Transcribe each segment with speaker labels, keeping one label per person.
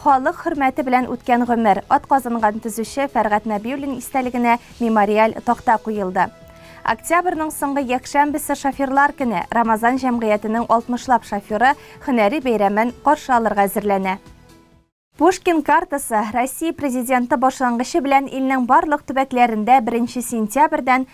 Speaker 1: Халык хөрмәте белән үткән гомер, атказанган төзүче Фәргать Нәбиуллин истәлегенә мемориаль такта куелды. Октябрьның соңгы якшәмбесе шоферлар көне, Рамазан җәмгыятенең 60 лап шоферы һөнәри бәйрәмен каршы алырга әзерләнә. Пушкин картасы, Россия Президенты башлангычы белән илнең барлык төбәкләрендә беренче сентябрьдән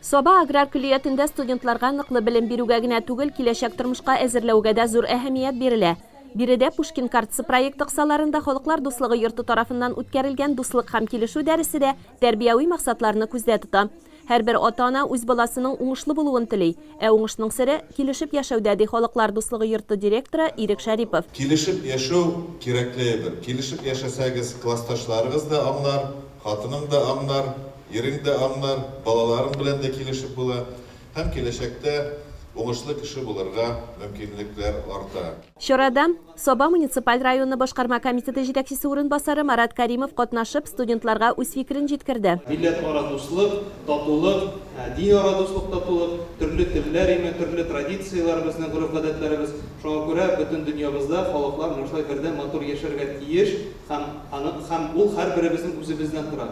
Speaker 1: Саба аграр көллиятендә студентларга ныклы белем бирүгә генә түгел, киләчәк тормышка әзерләүгә дә зур әһәмият бирелә. Биредә Пушкин картасы проекты кысаларында Халыклар дуслыгы йорты тарафыннан үткәрелгән Дуслык һәм килешү дәресе дә тәрбияви максатларны күздә тота. Һәрбер ата-ана үз баласының уңышлы булуын тели. Ә уңышның сере, килешеп яшәүдә, ди Халыклар дуслыгы йорты директоры Ирек Шәрипов. Килешеп яшәү,
Speaker 2: кирәкле әйбер. Килешеп яшәсәгез, классташларыгыз да аңлар, хатының да аңлар. Ирең дә аңлар, балаларың белән дә килешеп була һәм киләчәктә уңышлы кеше булырга мөмкинлекләр арта. Чарада
Speaker 1: Саба муниципаль районы башкарма комитеты җитәкчесе урынбасары Марат Кәримов катнашып, студентларга үз фикерен җиткерде. Милләтара дуслык,
Speaker 3: татулык, динара дуслык, татулык, төрле телләр име, төрле традицияләр безнең, гореф-гадәтләребез. Шуңа күрә бөтен дөньябызда халыклар менә шулай бердәм, матур яшәргә тиеш һәм аны һәм ул һәрберебезнең үзебездән тора.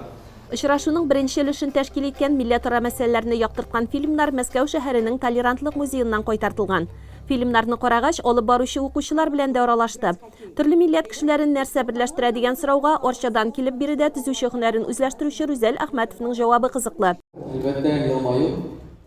Speaker 3: Очрашуның беренче
Speaker 1: өлешен тәшкил иткән милләтара мәсьәләләрне яктырткан фильмнар Мәскәү шәһәренең Толерантлык музееннан кайтартылган. Фильмнарны карагач, алып баручы укучылар белән дә аралашты. Төрле милләт кешеләрен нәрсә берләштерә дигән сорауга Арчадан килеп биредә төзүче һөнәрен үзләштерүче Рүзәл Әхмәтовның җавабы кызыклы. Әлбәттә, елмаю.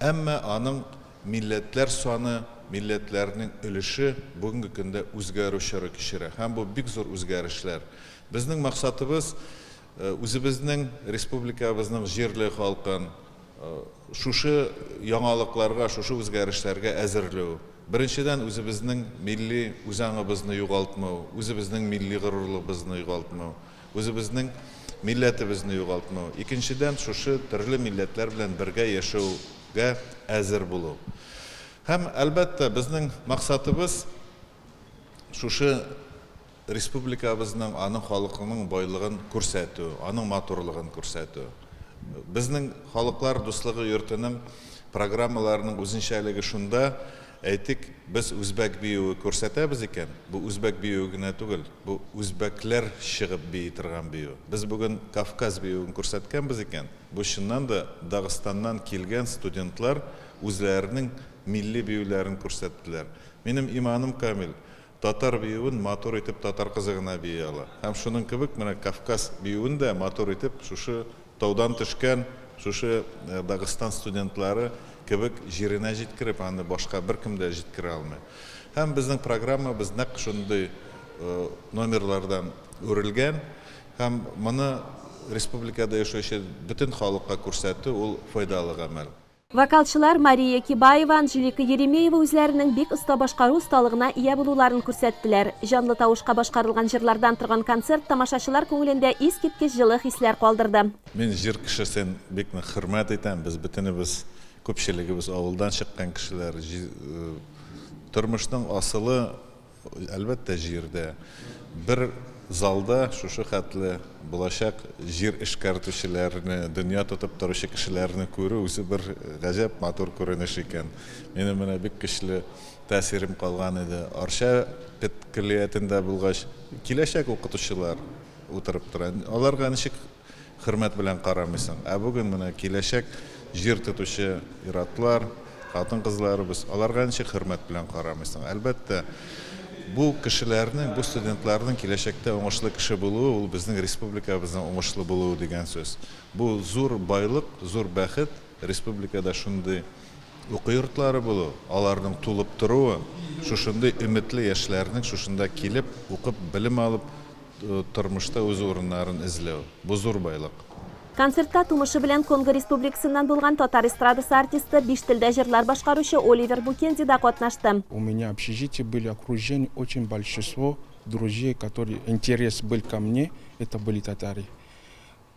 Speaker 2: Әмма аның милләтләр саны, милләтләрнең өлеше бүгенге көндә үзгәрү чоры кичерә һәм бу бик зур үзгәрешләр. Безнең максатыбыз, үзебезнең республикабызның җирле халкын шушы яңалыкларга, шушы үзгәрешләргә әзерлү. Беренчедән, үзебезнең милли үзаңыбызны югалтмау, үзебезнең милли горурлыгыбызны югалтмау. Үзебезнең милләтебезне югалтмау. Икенчедән, шушы төрле милләтләр белән бергә яшәүгә әзер булу. Һәм, әлбәттә, безнең максатыбыз, шушы республикабызның, аның халыкының байлыгын күрсәтү, аның матурлыгын күрсәтү. Безнең Халыклар дуслыгы йортының программаларының үзенчәлеге шунда, Әйтик, без үзбәк биюе күрсәтәбез икән, бу үзбәк биюе генә түгел, бу үзбәкләр чыгып бии торган бию. Без бүген Кавказ биюен күрсәткәнбез икән, бу чыннан да Дагыстаннан килгән студентлар үзләренең милли биюләрен күрсәттеләр. Минем иманым камил, Татар биюен матур итеп татар кызы гына бии ала. Һәм шуның кебек менә Кавказ биюен дә матур итеп шушы таудан төшкән, шушы Дагыстан студентлары кебек җиренә җиткереп, аны башка беркем дә җиткерә алмый. Һәм безнең программабыз нәкъ шундый номерлардан үрелгән. Һәм моны республикада яшәүче бөтен халыкка күрсәтү, ул файдалы гамәл. Вокалчылар
Speaker 1: Мария Кибаева, Анжелика Еремеева үзләренең бик оста башкару осталыгына ия булуларын күрсәттеләр. Җанлы тавышка башкарылган җырлардан торган концерт тамашачылар күңелендә искиткеч җылы хисләр калдырды. Мин җыр кешесен
Speaker 2: бик нык хөрмәт итәм. Без бөтенебез, күпчелегебез авылдан чыккан кешеләр. Тормышның асылы. Әлбәттә, җирдә. Бер залда шушы хәтле булачак җир эшкәртүчеләрне, дөнья тотып торучы кешеләрне күрү үзе бер гаҗәп матур күренеш икән. Минем менә бик көчле тәэсирем калган иде. Арча педкөллиятендә булгач, киләчәк укытучылар утырып тора. Аларга ничек Хөрмәт белән карамыйсың. Ә бүген менә киләчәк җир тотучы ир-атлар, хатын-кызларыбыз, аларга ничек хөрмәт белән карамыйсың? Әлбәттә, бу кешеләрнең, бу студентларның киләчәктә уңышлы кеше булуы, ул безнең республикабызның уңышлы булуы дигән сүз. Бу зур байлык, зур бәхет, республикада шундый уку йортлары булу, аларның тулып торуы, шушындый өметле яшьләрнең шушында килеп, укып, белем алып, Тормышта үз урыннарын эзләү, бу зур байлык. Концертта
Speaker 4: тумышы белән Конго Республикасыннан булган татар эстрадасы артисты, биш телдә җырлар башкаручы Оливер Букенди да катнашты. У меня общежитие
Speaker 5: были окружены очень большество друзей которые интерес был ко мне это были татары.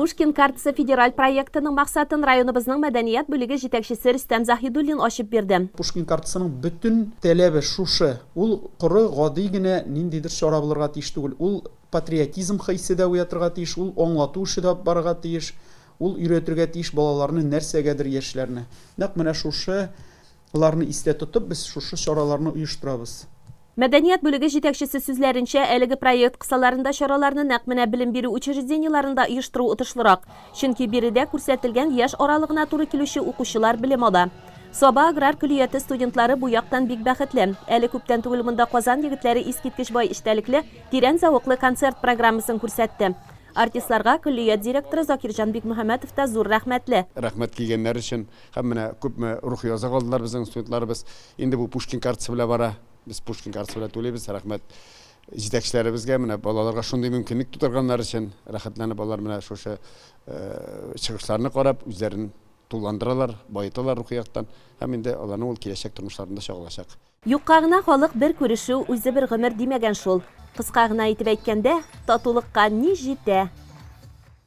Speaker 4: Пушкин картасы федераль проектының максатын районыбызның мәдәният бүлеге җитәкчесе Рөстәм Заһидуллин ачып бирде. Пушкин картасының
Speaker 6: бөтен таләбе шушы, ул коры, гади генә ниндидер чара булырга тиеш түгел, ул патриотизм хисе дә уятырга тиеш, ул аңлату эше дә барырга тиеш, ул өйрәтергә тиеш балаларны нәрсәгәдер, яшьләрне. Нәкъ менә шушы Боларны истә тотып, без шушы чараларны оештырабыз. Мәдәният бүлеге
Speaker 4: җитәкчесе сүзләренчә, әлеге проект кысаларында чараларны нәкъ менә белем бирү учреждениеларында оештыру отышлырак, чөнки биредә күрсәтелгән яшь аралыгына туры килүче укучылар белем ала. Саба аграр көллияте студентлары бу яктан бик бәхетле. Әле күптән түгел монда Казан егетләре искиткеч бай эчтәлекле, тирән зәвыклы концерт программасын күрсәтте. Артистларга көллият директоры Закирҗан Бикмөхәммәтов та зур рәхмәтле. Рәхмәт килгәннәр
Speaker 7: өчен. Һәм менә күпме рухи азык алдылар безнең студентларыбыз. Инде бу Пушкин картасы белән бара. Без Пушкин картасы белән түлибез. Рәхмәт җитәкчеләребезгә, менә балаларга шундый мөмкинлек тудырганнары өчен. Рәхәтләнеп алар менә шушы чыгышларны карап, үзләрен тулыландыралар, баеталар рухи яктан. Һәм инде аларның ул киләчәк тормышларында чагылачак. Юкка гына халык
Speaker 4: бер күрешү, үзе бер гомер димәгән шул. Кыска гына итеп әйткәндә, татулыкка ни җитә?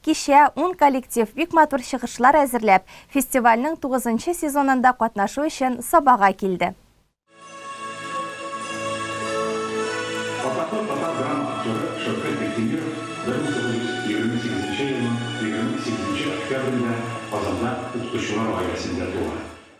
Speaker 1: Кичә ун коллектив бик матур чыгышлар әзерләп, фестивальнең тугызынчы сезонында катнашу өчен Сабага килде.
Speaker 8: Атаклы татар драма актеры Шәүкәт Биктимеров 1928 елның 28 октябрендә Казанда укытучылар гаиләсендә туа.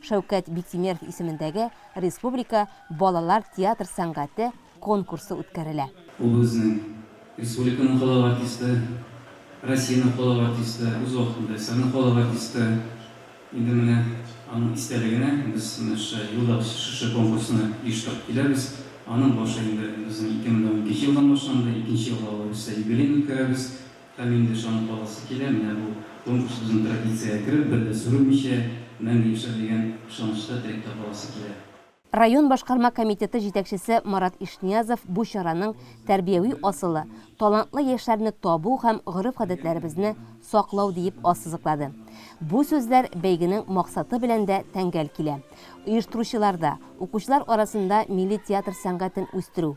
Speaker 4: Шәүкәт Биктимеров исемендәге республика балалар театр сәнгате конкурсы үткәрелә. Ул безнең
Speaker 9: республиканың халык артисты, Россиянең халык артисты, үз вакытында СССРның халык артисты. Инде менә аның истәлегенә без менә шушы елда шушы конкурсны оештырып киләбез. Аның башы инде безнең 2012 елдан башланды, икенче елга ул рәвештә юбилеен үткәрәбез. Һәм инде ышанып каласы килә, менә бу конкурс безнең традициягә кереп, бер дә сүрелмичә, мәңге яшәр дигән ышанычта, теләктә каласы килә. Район башкарма
Speaker 4: комитеты җитәкчесе Марат Ишниязов бу чараның тәрбияви асылы, талантлы яшьләрне табу һәм гореф-гадәтләребезне саклау диеп ассызыклады. Бу сүзләр бәйгенең максаты белән дә тәңгәл килә. Оештыручылар да, укучылар арасында милли театр сәнгатен үстерү,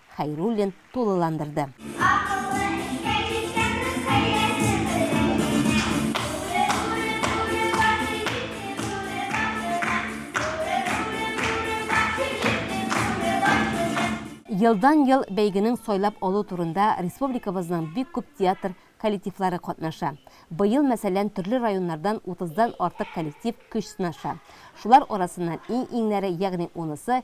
Speaker 4: Хәйруллин тулыландырды. Елдан-ел бәйгенең сайлап алу турында республикабызның бик күп театр коллективлары катнаша. Быел, мәсәлән, төрле районнардан утыздан артык коллектив көч сынаша. Шулар арасыннан иң-иңнәре, ягъни унысы,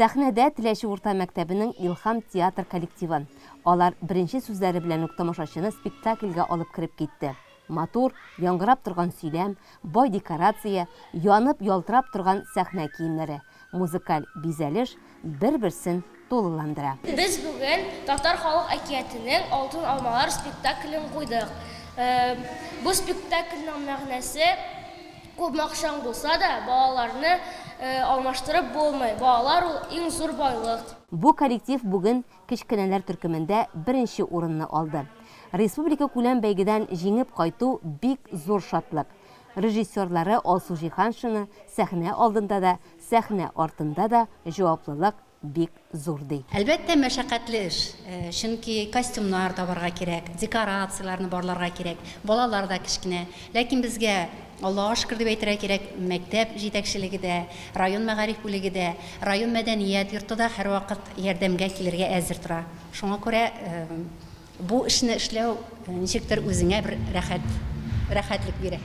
Speaker 4: Сәхнәдә Теләче урта мәктәбенең Илһам театр коллективы. Алар беренче сүзләре белән үк тамашачыны спектакльгә алып кереп китте. Матур, яңгырап торган сөйләм, бай декорация, янып, ялтырап торган сәхнә киемнәре, музыкаль бизәлеш бер-берсен тулыландыра. Без бүген
Speaker 10: Татар халык әкиятенең Алтын алмалар спектаклен куйдык. Бу спектакльнең мәгънәсе. Күпме акчаң булса да, балаларны алмаштырып булмый, балалар ул иң зур байлык. Бу коллектив
Speaker 4: бүген кечкенәләр төркемендә беренче урынны алды. Республикакүләм бәйгедән җиңеп кайту бик зур шатлык. Режиссерлары Алсу Җиһаншина сәхнә алдында да, сәхнә артында да җаваплылык, бик зур, ди. Әлбәттә, мәшәкатьле
Speaker 11: эш, чөнки костюмнар табарга кирәк, декорацияләрне барларга кирәк, балалар да кечкенә. Ләкин безгә, Аллага шөкер дип әйтергә кирәк, мәктәп җитәкчелеге дә, район мәгариф бүлеге дә, район мәдәният йорты да һәрвакыт ярдәмгә килергә әзер тора. Шуңа күрә бу эшне эшләү ничектер үзеңә бер рәхәт, рәхәтлек бирә.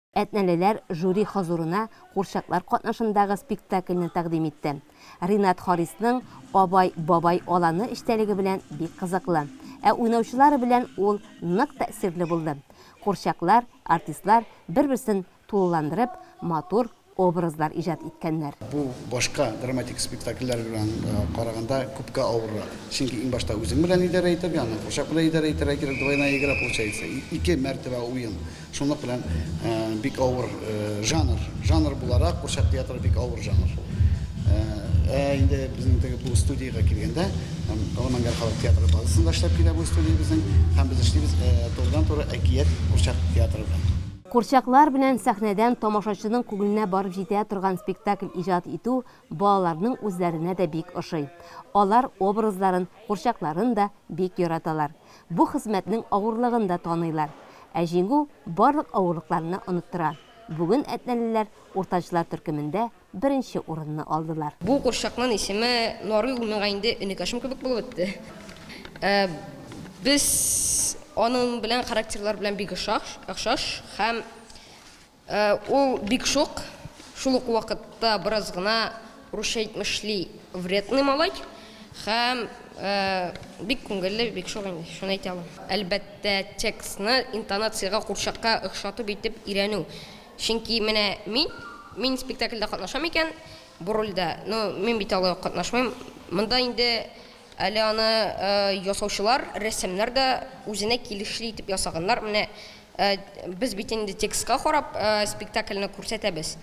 Speaker 11: Әтнәлеләр жюри хозурына курчаклар катнашындагы спектакльне тәкъдим итте. Ринат Харисның Абай, бабай, аланы эчтәлеге белән бик кызыклы. Ә уйнаучылары белән ул нык тәэсирле булды. Курчаклар, артистлар бер-берсен тулыландырып, матур образлар иҗат иткәннәр. Бу башка
Speaker 7: драматик спектакльләр белән караганда күпкә авыррак. Чөнки иң башта үзең белән идарә итәргә, аннан курчак белән идарә итәргә кирәк, двойная игра получается, ике мәртәбә уен. Шунлык белән бик авыр жанр. Жанр буларак курчак театры бик авыр жанр. Ә инде безнең теге бу студиягә килгәндә, Аламангар халык театры базасында эшләп килә бу студия безнең, һәм без эшлибез турыдан-туры әкият курчак театры белән. Курчаклар белән
Speaker 4: сәхнәдән тамашачының күңеленә барып җитә торган спектакль иҗат итү Балаларның үзләренә дә бик ошый. Алар образларын, курчакларын да бик яраталар. Бу хезмәтнең авырлыгын да таныйлар. Ә җиңү барлык авырлыкларны оныттыра. Бүген әтнәлеләр уртанчылар төркемендә беренче урынны алдылар. Бу курчакның
Speaker 12: исеме Нарый, ул миңа инде энекәшем кебек булып бетте. Без аның белән характерлары белән бик охшаш һәм Ул бик шук, шул ук вакытта бераз гына русча әйтмешли вредный малай һәм бик күңелле, бик шук инде, шуны әйтә алам. Әлбәттә, текстны интонациягә, курчакка охшатып итеп өйрәнү. Чөнки менә мин, мин спектакльдә катнашам икән, бу рольдә, ну, мин бит алай ук катнашмыйм. Монда инде Әле аны ясаучылар, рәссамнар да үзенә килешле итеп ясаганнар. Менә без бит инде текстка карап спектакльне күрсәтәбез.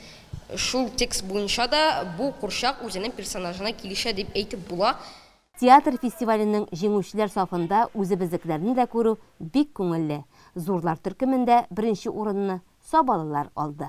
Speaker 12: Шул текст буенча да бу курчак үзенең персонажына килешә дип әйтеп була. Театр
Speaker 4: фестиваленең җиңүчеләр сафында үзебезнекеләрне дә күрү бик күңелле. Зурлар төркемендә беренче урынны Сабалылар алды.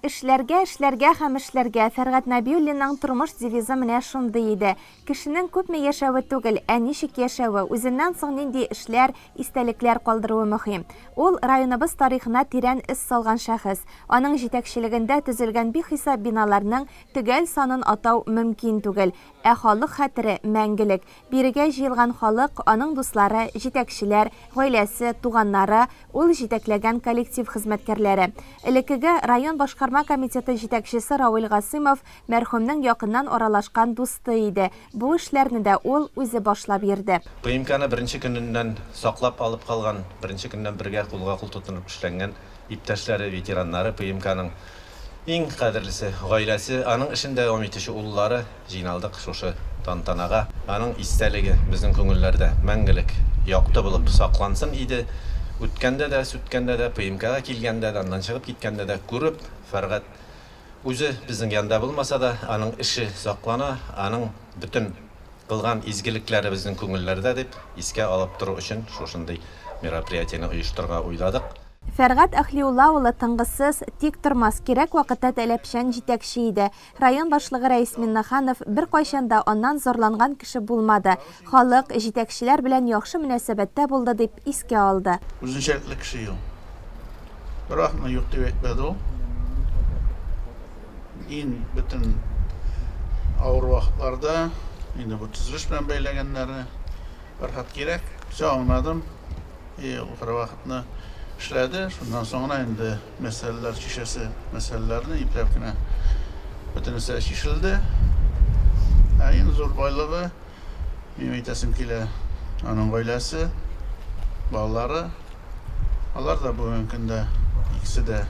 Speaker 1: Эшләргә, эшләргә һәм эшләргә. Фәргать Нәбиуллинның тормыш девизы менә шундый иде. Кешенең күпме яшәве түгел, ә ничек яшәве, үзеннән соң нинди эшләр, истәлекләр калдыруы мөһим. Ул, районыбыз тарихына тирән эз салган шәхес. Аның җитәкчелегендә төзелгән бихисап биналарның төгәл санын атау мөмкин түгел. Ә халык хәтере, мәңгелек. Бирегә җыелган халык, аның дуслары, җитәкчеләр, гаиләсе, туганнары, ул җитәкләгән коллектив хезмәткәрләре. Элеккеге район башкарма комитеты җитәкчесе Равил Гасыймов мәрхүмнең якыннан аралашкан дусты иде, бу эшләрне дә ул үзе башлап йөрде. ПМКны беренче
Speaker 13: көненнән саклап алып калган, беренче көннән бергә кулга-кул тотынып эшләнгән Иптәшләре, ветераннары, ПМКның иң кадерлесе, гаиләсе, аның эшен дәвам итүче уллары җыйналдык шушы тантанага. Аның истәлеге безнең күңелләрдә мәңгелек якты булып саклансын иде. Үткәндә дә, сүткәндә дә, ПМКга килгәндә дә, аннан чыгып киткәндә дә күреп, Фәргать үзе безнең янда булмаса да, аның эше саклана, аның бөтен. кылган изгелекләребезнең күңелләрдә дип искә алып тору өчен шушындый мероприятиене оештырырга уйладык. Фәргать
Speaker 1: Әхлиулла улы тынгысыз, тиктормас, кирәк вакытта таләпчән җитәкче иде. Район башлыгы Рәис Миннеханов беркайчан да аннан зарланган кеше булмады, халык, җитәкчеләр белән яхшы мөнәсәбәттә булды, дип искә алды. Үзенчәлекле кеше
Speaker 14: ул. Бервакытны юк дип әйтмәде ул. Ин бөтен авыр вакытларда инде бу төзелеш белән бәйләгәннәре Фәрхат кирәк. Все аңладым. И ул кровахтны эшләде. Шуннан соң гына инде мәсьәләләр чишәсе, мәсьәләләрне ипләп кенә бөтенесе чишелде. Ә иң зур байлыгы Минем әйтәсем килә, аның гаиләсе, балалары, алар да бүгенге көндә икесе дә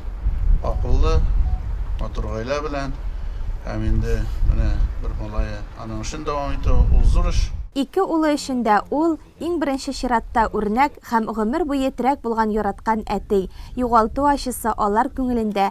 Speaker 14: акыллы, матур гаилә белән. Һәм инде менә бер малае аның эшен дәвам итү, ул зур эш. Ике улы өчен
Speaker 1: дә ул, иң беренче чиратта, үрнәк һәм гомер буе терәк булган яраткан әти. Югалту ачысы алар күңелендә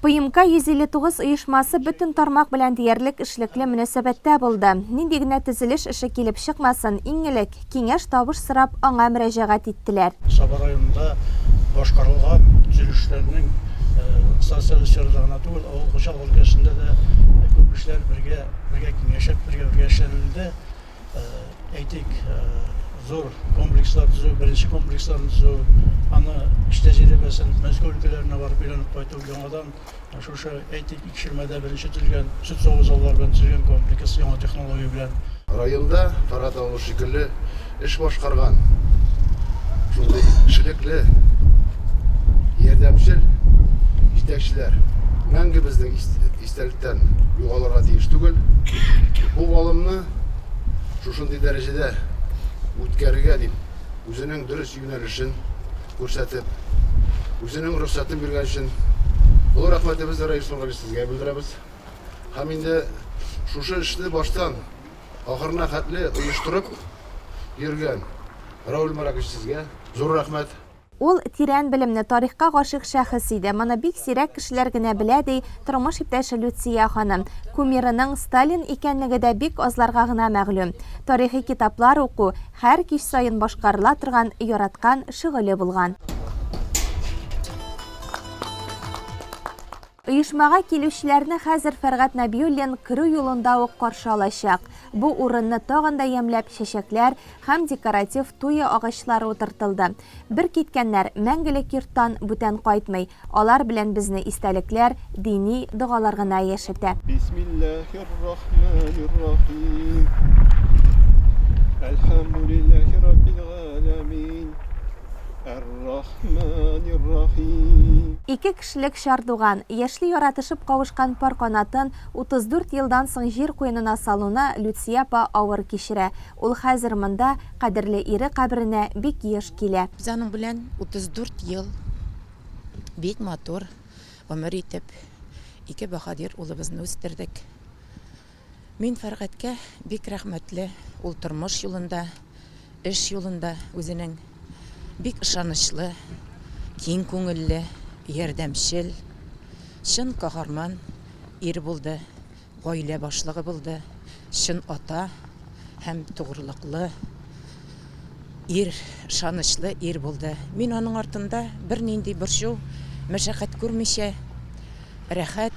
Speaker 15: ПМК
Speaker 1: 159 оешмасы бөтен тармак белән диярлек эшлекле мөнәсәбәттә булды. Нинди генә төзелеш эше килеп чыкмасын, иң элек, киңәш-табыш сорап, аңа мөрәҗәгать иттеләр. Саба районында
Speaker 16: башкарылган төзелешләрнең станцияле сферада гына түгел, авыл хуҗалыгы өлкәсендә дә күп эшләр бергә киңәшеп, бергә-бергә эшләнелде. әйтик, зур комплекслар төзү, беренче комплексларны төзү, аны эш тәҗрибәсен Мәскәү өлкәләренә барып өйрәнеп кайту, яңадан шушы, әйтик, Икшермәдә беренче төзелгән сөт саву заллары белән төзелгән комплекс яңа технология белән. Районда
Speaker 17: Каратау шикелле эш башкарган шундый эшлекле, ярдәмчел җитәкчеләр мәңге безнең истәлектә. күзәтүдән югалырга тиеш түгел. Бу алымны шушындый дәрәҗәдә үткәрергә дип, үзенең дөрес юнәлешен күрсәтеп, үзенең рөхсәтен биргән өчен олы рәхмәтебезне Раил Сөнгали сезгә белдерәбез. Һәм инде шушы эшне баштан ахырына хәтле оештырып йөргән Раул Маракович сезгә зур рәхмәт. Ул тирән
Speaker 1: белемле, тарихка гашыйк шәхес иде. Моны бик сирәк кешеләр генә белә, ди тормыш иптәше Люция ханым. Кумирының Сталин икәнлеге дә бик азларга гына мәгълүм. Тарихи китаплар уку, һәр кич саен башкарыла торган яраткан шөгыле булган. Оешмага килүчеләрне хәзер Фәргать Нәбиуллин керү юлында ук каршы алачак. Бу урынны тагын да ямьләп чәчәкләр һәм декоратив туя агачлары утыртылды. Бер киткәннәр мәңгелек йорттан бүтән кайтмый, алар белән безне истәлекләр, дини догалар гына яшәтә. Бисмиллаһир-рахманир-рахим.
Speaker 18: Әлхәмдүлиллаһи раббил галәмин. Әр-рахманир-рахим. Ике Яшьлек
Speaker 1: чар туган, яшьли яратышып кавышкан пар канатын 34 елдан соң җир куенына салуны Люция апа авыр кичерә. Ул хәзер монда, кадерле ире каберенә бик еш килә. Без аның белән
Speaker 19: 34 ел бик матур гомер итеп, ике баһадир улыбызны үстердек. Мин Фәргатькә бик рәхмәтле, ул тормыш юлында, эш юлында үзенең бик ышанычлы, киң күңелле, ярдәмчел, чын каһарман ир булды, гаилә башлыгы булды, чын ата һәм тугрылыклы ир, ышанычлы ир булды. Мин аның артында бернинди борчу, мәшәкать күрмичә, рәхәт.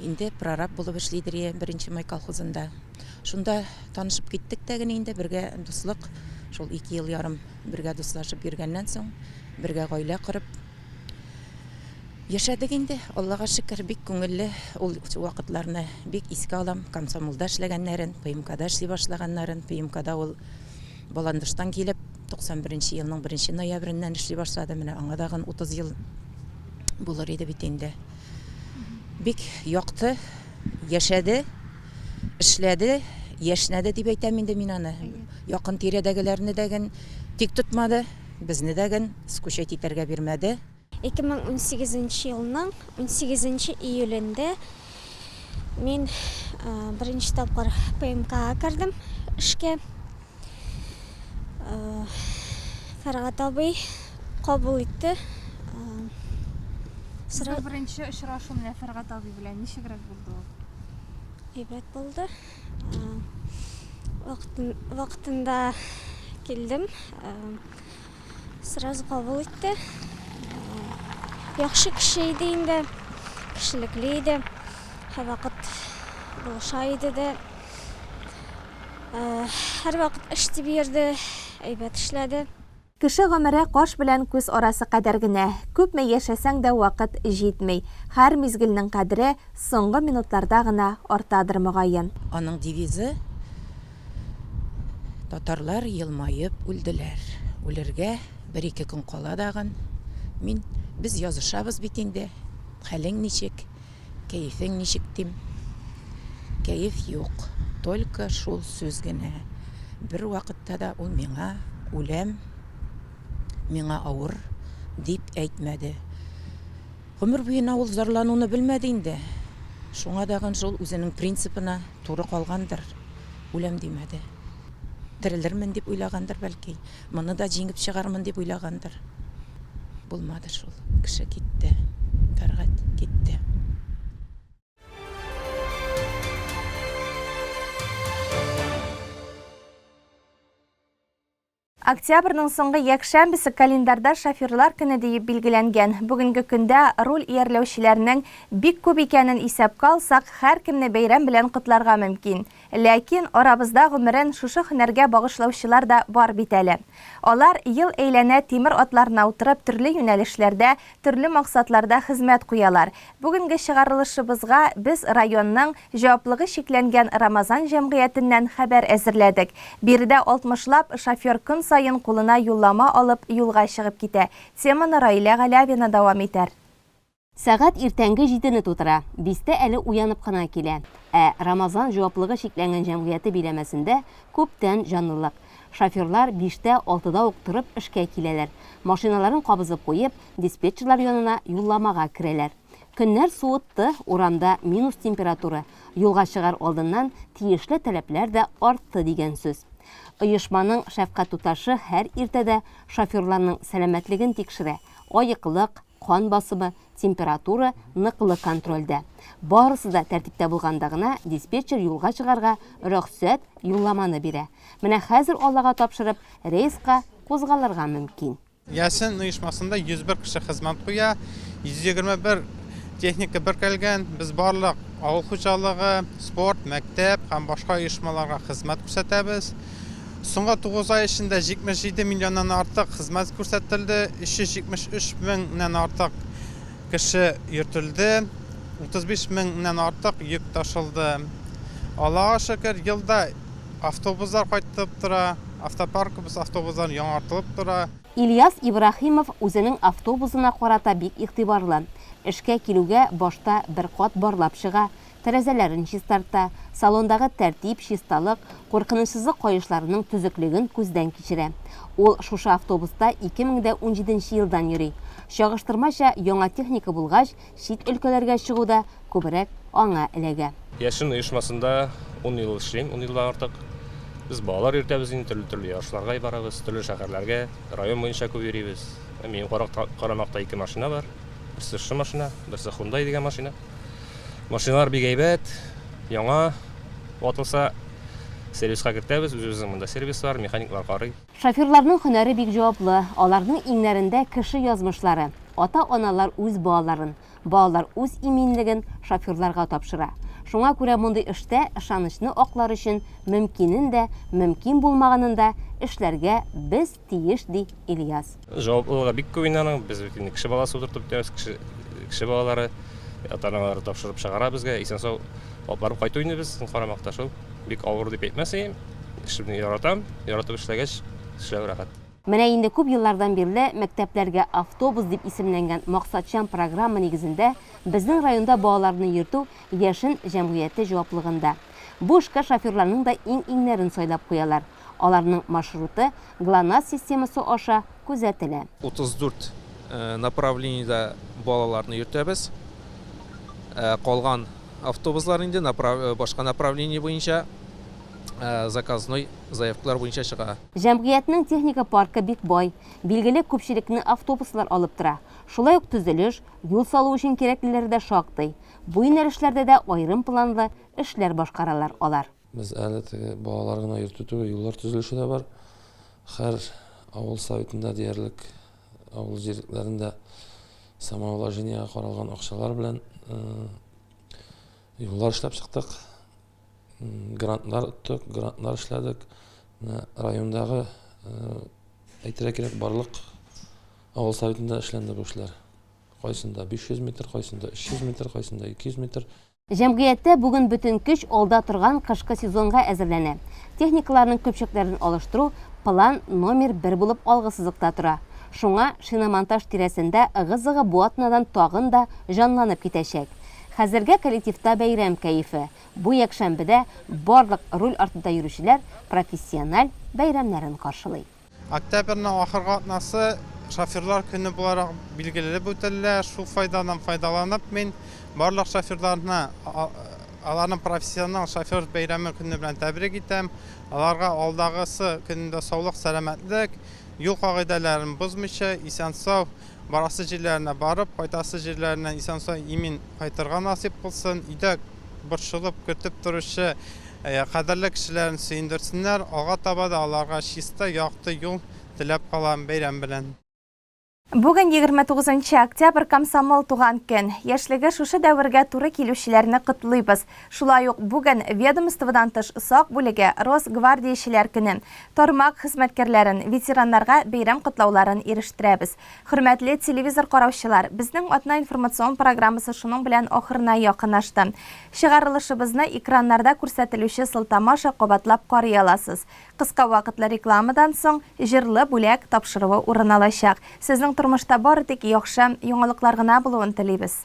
Speaker 19: Инде прораб булып эшли Дрия беренче май колхозында. Шунда танышып киттек тә генә инде, бергә дуслык. Шул ике ел ярым бергә дуслашып йөргәннән соң, бергә гаилә корып яшәдек инде. Аллага шөкер, бик күңелле ул вакытларны. Бик искә алам, комсомолда эшләгәннәрен, ПМКда эшли башлаганнарын. ПМКда ул Баландыштан килеп, 91 нче елның беренче ноябреннән эшли башлады. Менә аңа тагын 30 ел булыр иде бит инде. Бик якты яшәде, эшләде, яшьнәде дип әйтәм инде мин аны. Якын тирәдәгеләрне дә ген тик тотмады, безне дә ген скучать итәргә бирмәде. 2018
Speaker 20: нче елның 18 нче июлендә мин беренче тапкыр ПМКга кердем эшкә. Фәргат абый кабул итте.
Speaker 1: Сыра... Бер беренче очрашу менә Фәргат абый белән ничегрәк булды ул? Әйбәт
Speaker 20: булды. Вакытын, вакытында килдем. Сразу кабул итте. Яхшы кеше иде инде. Кешелекле иде. Һәрвакыт булыша иде дә. Һәрвакыт эш дип йөрде, әйбәт эшләде. Кеше гомере
Speaker 1: каш белән күз арасы кадәр генә. Күпме яшәсәң дә вакыт җитми. Һәр мизгелнең кадере соңгы минутларда гына артадыр мөгаен. Аның девизы,
Speaker 19: Татарлар елмаеп үлделәр. Үлергә бер-ике көн кала дагын. Мин, Без язышабыз бит инде. Хәлең ничек? Кәефең ничек, дим. Кәеф юк, только шул сүз генә. Бервакытта да ул миңа, үләм, миңа авыр, дип әйтмәде. Гомер буена ул зарлануны белмәде инде. Шуңа тагын шул үзенең принципына туры калгандыр, үләм димәде. Терелермен дип уйлагандыр, бәлки. Моны да җиңеп чыгармын дип уйлагандыр. Булмады шул. Кеше китте. Тәргать китте.
Speaker 1: Октябрьнең соңгы якшәмбесе календарьда шоферлар көне диеп билгеләнгән. Бүгенге көндә руль иярләүчеләрнең бик күп икәнен исәпкә алсак, һәркемне бәйрәм белән котларга мөмкин. Ләкин арабызда гомерен шушы һөнәргә багышлаучылар да бар бит әле. Алар, ел әйләнә тимер атларына утырып, төрле юнәлешләрдә, төрле максатларда хезмәт куялар. Бүгенге чыгарылышыбызга без районның Җаваплыгы чикләнгән Рамазан җәмгыятеннән хәбәр әзерләдек. Биредә алтмышлап шофер көн саен кулына юллама алып юлга чыгып китә. Теманы Раилә Галявина дәвам итәр. Сәгать
Speaker 4: иртәнге җидене тутыра, бистә әле уянып кына килә. Ә Рамазан җаваплыгы чикләнгән җәмгыяте биләмәсендә күптән җанлылык. Шоферлар биштә, алтыда ук торып эшкә киләләр. Машиналарын кабызып куеп, диспетчерлар янына юлламага керәләр. Көннәр суытты, урамда минус температура, юлга чыгар алдыннан тиешле таләпләр дә артты дигән сүз. Оешманың шәфкать туташы һәр иртәдә шоферларның сәламәтлеген тикшерә, аеклык, Кан басымы, температура ныклы контрольдә. Барысы да тәртиптә булганда гына диспетчер юлга чыгарга рөхсәт юлламаны бирә. Менә хәзер Аллага тапшырып, рейска кузгалырга мөмкин. Яшен оешмасында
Speaker 3: 101 кеше хезмәт куя, 121 техника беркелгән. Без барлык авыл хуҗалыгы, спорт, мәктәп һәм башка оешмаларга хезмәт күрсәтәбез. Соңгы тугыз ай эчендә 77 миллионнан артык хезмәт күрсәтелде, 373 меңнән артык кеше йөртелде, 35 меңнән артык йөк ташылды. Аллага шөкер, елда автобуслар кайтып тора, автопаркыбыз автобусларын яңартылып тора. Ильяс Ибраһимов
Speaker 4: үзенең автобусына карата бик игътибарлы. Эшкә килүгә башта бер кат барлап чыга, тәрәзәләрен чистарта, салондагы тәртип, чисталык, куркынычсызлык каешларының төзеклеген күздән кичерә. Ул шушы автобуста 2017 елдан йөри. Чагыштырмача, яңа техника булгач, чит өлкәләргә чыгу да күбрәк аңа эләгә. Яшен оешмасында
Speaker 21: ун ел эшлим, ун елдан артык. Без балалар йөртәбез инде, төрле-төрле ярышларга барабыз, төрле шәһәрләргә, район буенча күп йөрибез. Минем карамакта ике машина бар. Берсе шушы машина, берсе Хундай дигән машина. Машиналар бик әйбәт, яңа ватылса сервиска кертәбез, үзебезнең монда сервис бар, механиклар карый. Шоферларның һөнәре
Speaker 4: бик җаваплы, аларның иңнәрендә кеше язмышлары. Ата-аналар үз балаларын, балалар үз иминлеген шоферларга тапшыра. Шуңа күрә мондый эштә ышанычны аклар өчен мөмкинен дә, мөмкин булмаганын да эшләргә без тиеш, ди Ильяс. Җаваплылыгы бик күп
Speaker 21: инде аның. Без бит инде кеше баласы утыртып бетәбез, кеше, кеше балалары, ата-аналары тапшырып чыгара безгә, исән-сау алып барып кайту инде без карамакта шул. Бик авыр дип әйтмәс идем, эшемне яратам, яратып эшләгәч, эшләү рәхәт. Менә инде күп
Speaker 4: еллардан бирле мәктәпләргә автобус дип исемләнгән максатчан программа нигезендә безнең районда балаларны йөртү Яшен җәмгыяте җаваплылыгында. Бу эшкә шоферларның да иң-иңнәрен сайлап куялар. Аларның маршруты Глонасс системасы аша күзәтелә. 34
Speaker 22: направлениедә балаларны йөртәбез. Ә калган автобуслар инде башка направление буенча заказной заявкалар буенча чыга. Җәмгыятьнең техника
Speaker 4: паркы бик бай, билгеле күпчелекне автобуслар алып тора. Шулай ук төзелеш, юл салу өчен кирәклеләре дә шактый. Бу юнәлешләрдә дә аерым планлы эшләр башкаралар алар. Без әле теге
Speaker 23: балалар гына йөртү түгел, юллар төзелеше дә бар. Хәр авыл советында диярлек авыл җирлекләрендә самоуложениега каралган акчалар белән юллар эшләп чыктык. Грантлар оттык, грантлар эшләдек. Райондагы әйтергә кирәк, барлык авыл советында эшләнде бу эшләр. Кайсында 500 метр, кайсында 300 метр, кайсында 200 метр. Җәмгыятьтә бүген
Speaker 4: бөтен көч алда торган кышкы сезонга әзерләнә. Техникаларның көпчәкләрен алыштыру план номер бер булып алгы сызыкта тора. Шуңа шиномонтаж тирәсендә ыгы-зыгы бу атнадан тагын да җанланып китәчәк. Хәзергә коллективта бәйрәм кәефе. Бу якшәмбедә барлык руль артында йөрүчеләр профессиональ бәйрәмнәрен каршылый. Октябрьнең
Speaker 3: ахыргы атнасы шоферлар көне буларак билгелелеп үтелә. Шул файдадан файдаланып, мин барлык шоферларны аларның профессионал шофер бәйрәме көне белән тәбрик итәм. Аларга алдагысы көнендә саулык, сәламәтлек, юл кагыйдәләрен бозмыйча, исән-сау барасы җирләренә барып, кайтасы җирләренә исән-сау имин кайтырга насыйп булсын. Өйдә борчылып көтеп торучы кадерле кешеләрен сөендерсеннәр, алга таба да аларга чиста, якты юл теләп калам, бәйрәм белән! Бүген
Speaker 1: егерме тугызынчы октябрь комсомол туган көн. Яшьлеге шушы дәвергә туры килүчеләрне котлыйбыз. Шулай ук бүген ведомстводан тыш сак бүлеге, Росгвардиячеләр көне, тармак хезмәткәрләрен, ветераннарга бәйрәм котлауларын ирештерәбез. Хөрмәтле телевизор караучылар, безнең атна информацион программасы шуның белән ахырына якынашты. Чыгарылышыбызны экраннарда күрсәтелүче сылтама аша кабатлап карый аласыз. Кыска вакытлы рекламадан соң, җырлы бүләк тапшыруы урын алачак. Сезнең тормышта бары тик яхшы яңалыклар гына булуын телибез.